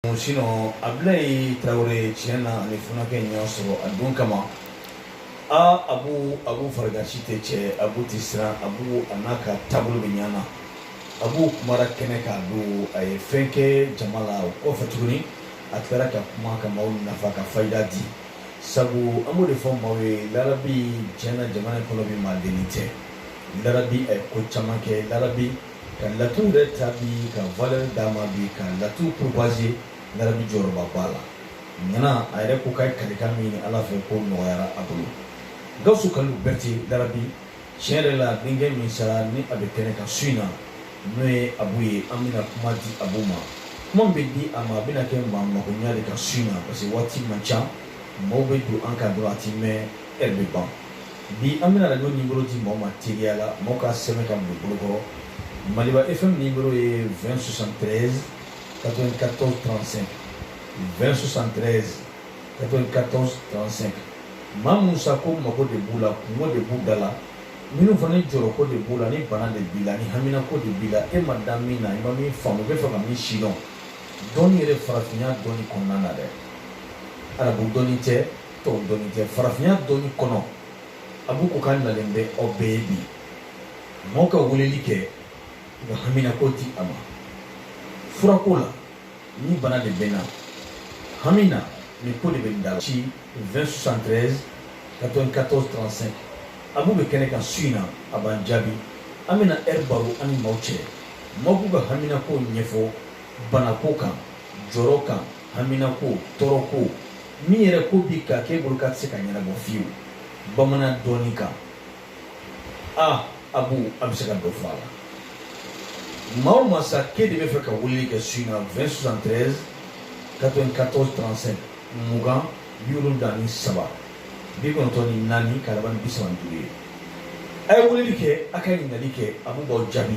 sinɔn abulayi tarawele tiɲɛ na ani funakɛ in y'a sɔrɔ a don kama aa abu abu farigasi tɛ cɛ abu tɛ siran abu a n'a ka taabolo bɛɛ ɲana abu kumara kɛnɛ kan don a ye fɛn kɛ jama la o kɔfɛ tuguni a tilara ka kuma ka maaw nafa ka fayida di sabu an b'o de fɔ maaw ye larabi tiɲɛ na jamana in kɔnɔ bi maa deli tɛ larabi a ye ko caman kɛ larabi ka laturu yɛrɛ ta bi ka valeur d'a ma bi ka laturu propager larabi jɔyɔrɔba b'a la ŋana a yɛrɛ ko k'a ye kalikan min ɲini ala fɛ k'o nɔgɔyara a bolo gawusu kalilu bɛrite larabi tiɲɛ yɛrɛ la denkɛ min sara ni a bɛ kɛnɛ kan su in na n'o ye abu ye an bɛna kuma di abu ma kuma bɛ di a ma a bɛna kɛ maa makoɲa de kan su in na parce que waati man ca mɔgɔw bɛ don an kan dɔrɔn a ti mɛn e bɛ ban bi an bɛna radio nimero di mɔgɔw ma teliya la mɔgɔw k'a sɛbɛn k'a don bolokɔrɔ maliba fm nimero ye 20 73 94 35 20 73 94 35 maa minnu sa ko mago de b'u la kunko de b'u da la minnu fana ni jɔrɔko de b'u la ni bana de b'i la ni haminako de b'i la e ma da min na i ma min faamu i bɛ fɛ ka min sidɔn dɔnni yɛrɛ farafinya dɔnni kɔnɔna na dɛ arabu dɔnni tɛ tɔw dɔnni tɛ farafinya dɔnni kɔnɔ abu ko k'a nalen bɛ aw bɛɛ ye bi maaw ka weleli kɛ k'u ka haminako di a ma furako la ni bana de bɛ n na hamina ni ko de bɛ n da la ci 2073 94 35 abu bɛ kɛnɛ kan su in na a b'an jaabi an bɛna ɛri baro an ni maaw cɛ maaw b'u ka haminako ɲɛfɔ banako kan jɔrɔ kan haminako tɔɔrɔko min yɛrɛ ko b'i kan k'e bolo k'a tɛ se ka ɲɛnabɔ fewu bamanan dɔnni kan a abu a bɛ se ka dɔ fɔ a la maa o maa sa k'e de bɛ fɛ ka weleli kɛ su in na 20 73 94 35 mugan bi wolonwula ni saba bi kɔnɔntɔn ni naani k'a laban ni bi saba ni duuru ye a ye weleli kɛ a ka ɲininkali kɛ abu b'aw jaabi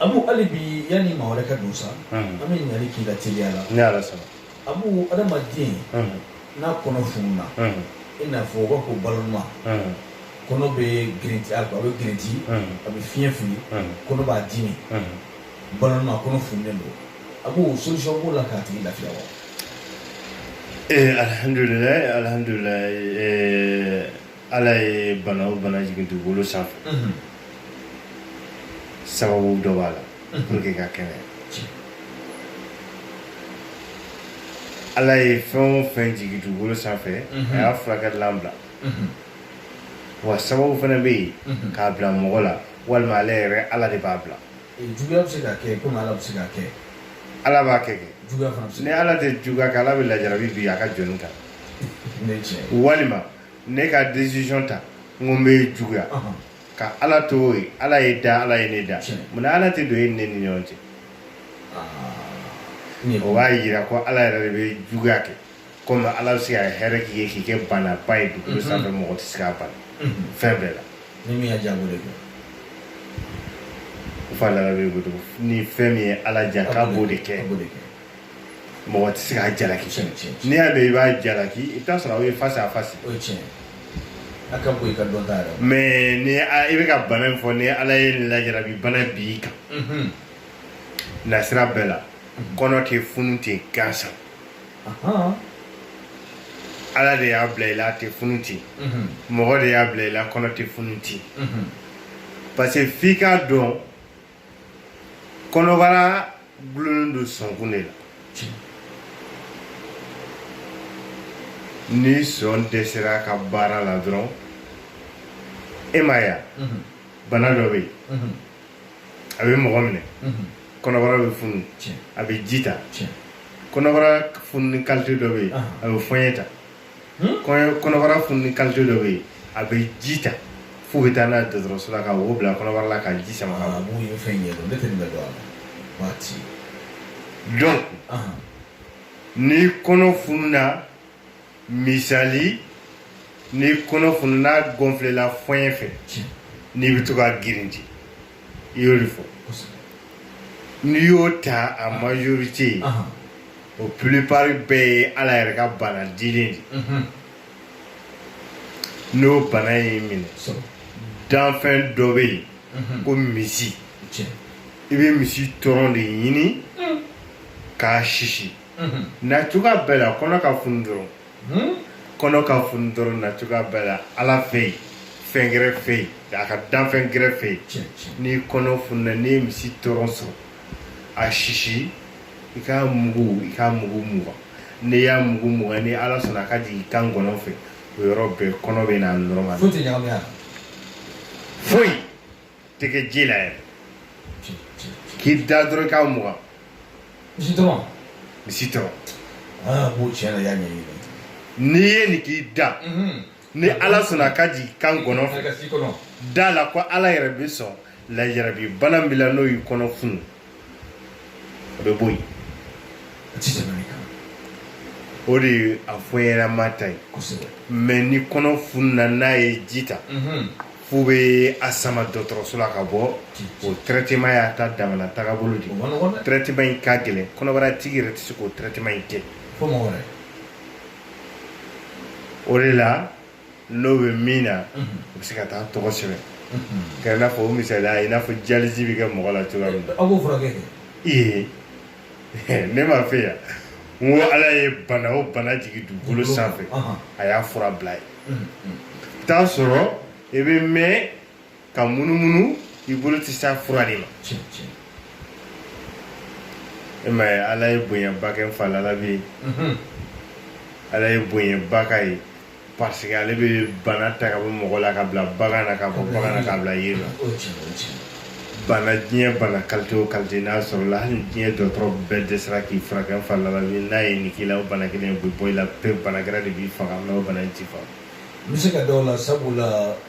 abu hali bi yanni maa wɛrɛ ka don sa an bɛ ɲininkali k'i la teliya la ni ala sɔnna abu adamaden n'a kɔnɔ fununa i n'a fɔ u b'a ko ballonnement kɔnɔ bɛ girinti a bɛ girinti a bɛ fiɲɛ fili kɔnɔ b'a dimi ballonnement kɔnɔ fununen don abu solution b'o la k'a tigi lafiya wa ee alihamdulilayi alihamdulilayi ee ala ye bana o bana jigin dugukolo sanfɛ sababu dɔ b'a la pour que ka kɛnɛ ala ye fɛn o fɛn jigin dugukolo sanfɛ a y'a furakɛlan bila wa sababu fana bɛ yen k'a bila mɔgɔ la walima ale yɛrɛ ala de b'a bila juguya bɛ se ka kɛ komi ala bɛ se ka kɛ ala b'a kɛ kɛ juguya fana bɛ se ni ka ala tɛ juguya kɛ ala bɛ lajarabi bin a ka jɔn kan kɛ ne cɛ walima ne ka décision ta n ko n bɛ juguya kɛ ala to o ye ala y'e da ala ye ne da munna ala tɛ don e ni ne ni ɲɔgɔn cɛ o b'a yira ko ala yɛrɛ de bɛ juguya kɛ komi ala bɛ se ka hɛrɛ k'i ye k'i kɛ baanaba ye dugukolo sanfɛ mɔgɔ tɛ se ka ban a fɛn bɛɛ la ni min y'a diya a b'o de kɛ fa lara bɛ ni fɛn min ye ala diya k'a b'o de kɛ mɔgɔ tɛ se k'a jalaki tiɲɛ tiɲɛ n'i y'a mɛn i b'a jalaki i bɛ t'a sɔrɔ aw ye face à face o ye tiɲɛ a ka bon i ka dɔnta yɛrɛ la mais ni a- i bɛ ka bana min fɔ ni ala ye nin lajarabi bana bin i kan Mhm. nasira bɛɛ la kɔnɔ tɛ funu ten gansan Ahan. ala de y'a bila i la a tɛ funu ten Mhm. mɔgɔ de y'a bila i la kɔnɔ tɛ funu ten Mhm. parce que f'i k'a dɔn kɔnɔbara gulonnen don sɔnkun de la ni sɔn dɛsɛra a ka baara la dɔrɔn e m'a ye mhm. bana dɔ bɛ yen mhm. a bɛ mɔgɔ minɛ mhm. kɔnɔbara bɛ funu a bɛ ji ta kɔnɔbara fununi kalite dɔ bɛ yen a bɛ fɔɲɛ ta kɔnɔbara fununi kalite dɔ bɛ yen a bɛ ji ta f'u bɛ taa n'a ye dɔgɔtɔrɔso la ka wo bila kɔnɔbara la ka ji sama ka bɔ. mun ye fɛn ɲɛ dɔn ne tɛ nin bɛ dɔn a la waati. donc ni kɔnɔ fununa misali ni kɔnɔ fununa gonfléla fɔɲɛ fɛ n'i bɛ to ka girinti. i y'o de fɔ n'i y'o ta a majorité o plupart bɛɛ ye ala yɛrɛ ka bana dilen de mhm. n'o bana y'i minɛ danfɛn dɔ bɛ yen mhm. ko misi i bɛ misi tɔrɔn de ɲini mm. k'a sisi mhm. na cogoya bɛɛ la kɔnɔ ka funu dɔrɔn hmm? kɔnɔ ka funu dɔrɔn na cogoya bɛɛ la ala fɛ yen fɛn gɛrɛ fɛ yen a ka danfɛn gɛrɛ fɛ yen n'i kɔnɔ fununa n'i ye misi tɔrɔn sɔrɔ a sisi i k'a mugu i k'a mugu mugan n'i y'a mugu mugan ni ala sɔnna a ka jigin i kan gɔnɔ fɛ o yɔrɔ bɛɛ kɔnɔ bɛ na normal foyi tɛ ɲagami a la foyi tɛ kɛ ji la yɛrɛ k'i da dɔrɔn k'a mugan misi dɔrɔn misi dɔrɔn aa b'o tiɲɛ na y'a ɲɛɲini n'i ye nin k'i da ni ala sɔnna a ka jigin i kan gɔnɔ fɛ ka s'i kɔnɔ da la ko ala yɛrɛ bi sɔn lajarabi bana min b'i la n'o y'i kɔnɔ funu a bɛ bɔ yen a ti tɛmɛ nin kan o de ye a fɔ ɲɛnama ta ye kosɛbɛ mɛ ni kɔnɔ fununa n'a ye ji ta Mhm. f'u bɛ a sama dɔgɔtɔrɔso la k'a bɔ o traitement y'a ta damana tagabolo de o man nɔgɔn dɛ traitement in ka gɛlɛn kɔnɔbara tigi yɛrɛ tɛ se k'o traitement in kɛ fo mɔgɔ wɛrɛ o de la n'o bɛ min na o bɛ se ka taa tɔgɔ sɛbɛn kɛ i n'a fɔ o misaliya i n'a fɔ dialyse bɛ kɛ mɔgɔ la cogoya min na aw b'o furakɛ ee ne m'a fɛ yan n ko ala ye bana o bana jigin dugukolo sanfɛ a y'a fura bila yen t'a sɔrɔ i bɛ mɛn ka munumunu i bolo tɛ s'a fura de ma e m'a ye ala ye bonyaba kɛ fa lalabi ye ala ye bonyaba k'a ye parce que ale bɛ bana ta ka bɔ mɔgɔ la k'a bila bagan na k'a bɔ bagan na k'a bila yiri la bana diɲɛ bana kalite o kalite n'a sɔrɔla hali diɲɛ dɔgɔtɔrɔ bɛɛ dɛsɛra k'i furakɛ fa lalabi n'a ye nin k'i la o bana kelen o bɛ bɔ i la pewu bana gɛrɛ de b'i faga mɛ o bana in t'i faga n bɛ se ka d'o la sabula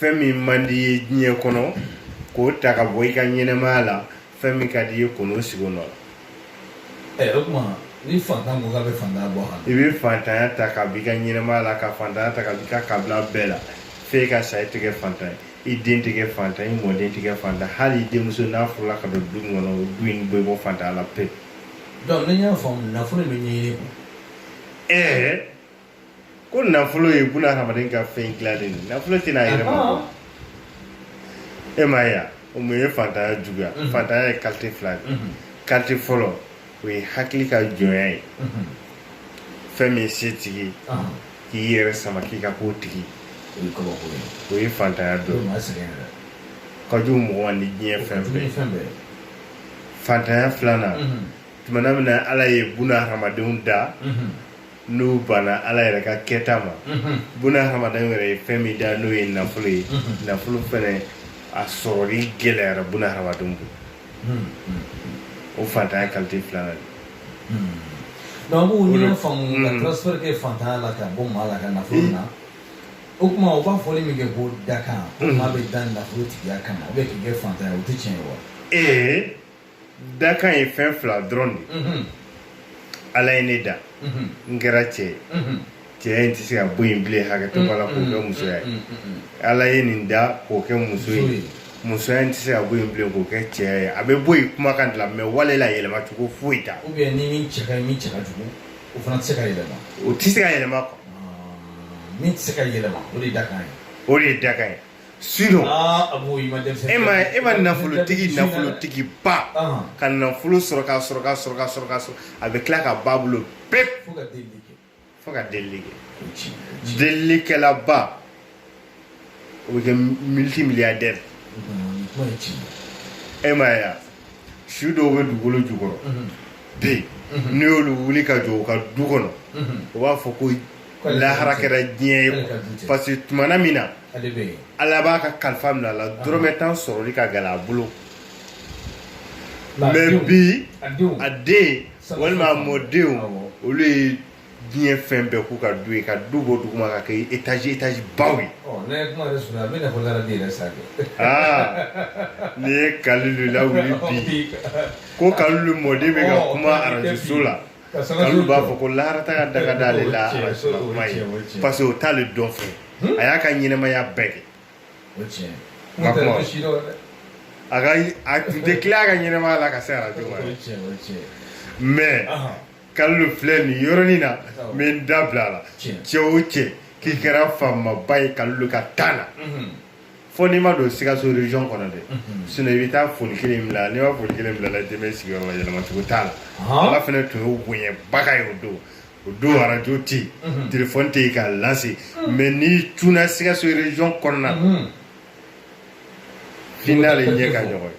fɛn min man di i ye diɲɛ kɔnɔ k'o ta ka bɔ i ka ɲɛnɛmaya la fɛn min ka di i ye ka n'o sigi o nɔ la eh, o tuma ni fantan ko k'a bɛ fantanya bɔ a la i bɛ fantanya ta ka b'i ka ɲɛnɛmaya la ka fantanya ta ka b'i ka kabila bɛɛ la f'e ka sa i tɛ kɛ fantan ye i den tɛ kɛ fantan i mɔden tɛ kɛ fantan hali i denmuso n'a furula ka don du min kɔnɔ o du in bɛ bɔ fantanya la pewu. donc ni n y'a faamu nafolo bɛ ɲɛɲini quoi. ɛɛ. ko nafolo ye buna hadamaden ka fɛn dilannen de nafolo tɛ na a yɛrɛ ma bon e m'a ye a o mun ye fantanya juguya fantanya ye kalite fila de kalite fɔlɔ o ye hakili ka jɔnya ye fɛn min ye setigi k'i yɛrɛ sama k'i ka k'o tigi o ye fantanya dɔ ye ka jugu mɔgɔ ma ni diɲɛ fɛn bɛɛ fantanya filanan tuma min na ala ye buna hadamadenw da n'u banna ala yɛrɛ ka kɛta ma buna hadamaden yɛrɛ ye fɛn min da n'o ye nafolo ye nafolo fɛnɛ a sɔrɔli gɛlɛyara buna hadamadenw bolo o fantanya kalite filanan de donc an b'o ɲini faamu ka transfert kɛ fantanya la ka bɔ maa la ka nafolo na o tuma o b'a fɔli min kɛ ko dakan ko maa bɛ da nafolo tigiya kama ou bien k'i kɛ fantanya o tɛ tiɲɛ ye wa ee dakan ye fɛn fila dɔrɔn de ye ala ye ne da n kɛra cɛ ye cɛya in tɛ se ka bɔ yen bilen hakɛto b'a la k'o kɛ musoya ye ala ye nin da k'o kɛ muso ye musoya in tɛ se ka bɔ yen bilen k'o kɛ cɛya ye a bɛ bɔ yen kumakan de la mais wale la yɛlɛma cogo foyi t'a la ni min cɛ ka ɲi min cɛ ka jugu o fana tɛ se ka yɛlɛma o tɛ se ka yɛlɛma quoi min tɛ se ka yɛlɛma o de ye dakan ye o de ye dakan ye Sinon, ah, e ma e ma nafolotigi nafolotigi ba ah. ka nafolo sɔrɔ k'a sɔrɔ k'a sɔrɔ k'a sɔrɔ k'a sɔrɔ a bɛ tila ka ban a bolo pewu fo ka delili kɛ fo ka delili kɛ delilikɛlaba o bɛ kɛ multimilliardaire e m'a ye su dɔw bɛ dugukolo jukɔrɔ mhm. bi mhm. n'i y'olu wuli ka jɔ u ka du kɔnɔ mhm. u b'a fɔ ko lahara kɛra diɲɛ ye parce que tumana min na ala b'a ka kalifa minɛ a la dɔrɔmɛ tan sɔrɔli ka gɛlɛn a bolo mais bi a den walima a mɔdenw olu ye diɲɛ fɛn bɛɛ k'u ka du ye ka du bɔ duguma k'a kɛ étage étage baw ye n'i ye kalilu lawuli bi ko kalilu mɔden bɛ ka kuma arajoso la kalilu b'a fɔ ko laharata ka daga d'ale la arajo la kuma ye parce que o t'ale dɔn fɛ a y'a ka ɲɛnamaya bɛɛ kɛ nka kuma a ka a tun tɛ tila a ka ɲɛnamaya la ka se arajo ma mais kalilu filɛ nin yɔrɔnin na n bɛ n da bila a la cɛ o cɛ k'i kɛra faamaba ye kalilu ka temps na fo n'i ma don sikaso région kɔnɔ dɛ sinon i bɛ taa foli kelen bila n'i ma foli kelen bila la den bɛ sigiyɔrɔ la yɛlɛma cogo t'a la ala fana tun y'o bonyabaga ye o don o don arajo tɛ yen telefɔni tɛ yen k'a lase mais n'i cunna sikaso région kɔnɔna na f'i n'ale ɲɛ ka ɲɔgɔn ye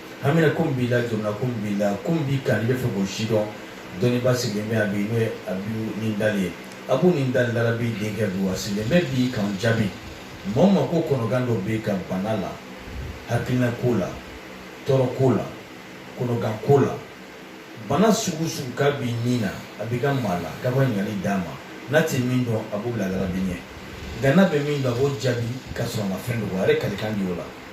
haminanko min b'i la jamana ko min b'i la ko min b'i kan n'i bɛ fɛ k'o si dɔn dɔnniba sigilen bɛ yan bi n'o ye abu ni dali ye abu ni dali larabi denkɛ don a sigilen bɛ bi k'an jaabi maa o maa ko kɔnɔgan dɔ b'a kan bana la hakilina ko la tɔɔrɔ ko la kɔnɔgan ko la bana sugu sugu k'a b'i ni na a b'i ka maa la k'a ka ɲininkali d'a ma n'a tɛ min dɔn a b'o bila larabi ɲɛ nka n'a bɛ min dɔn a b'o jaabi k'a sɔrɔ a ma fɛn dɔ a yɛrɛ kalikan b'o la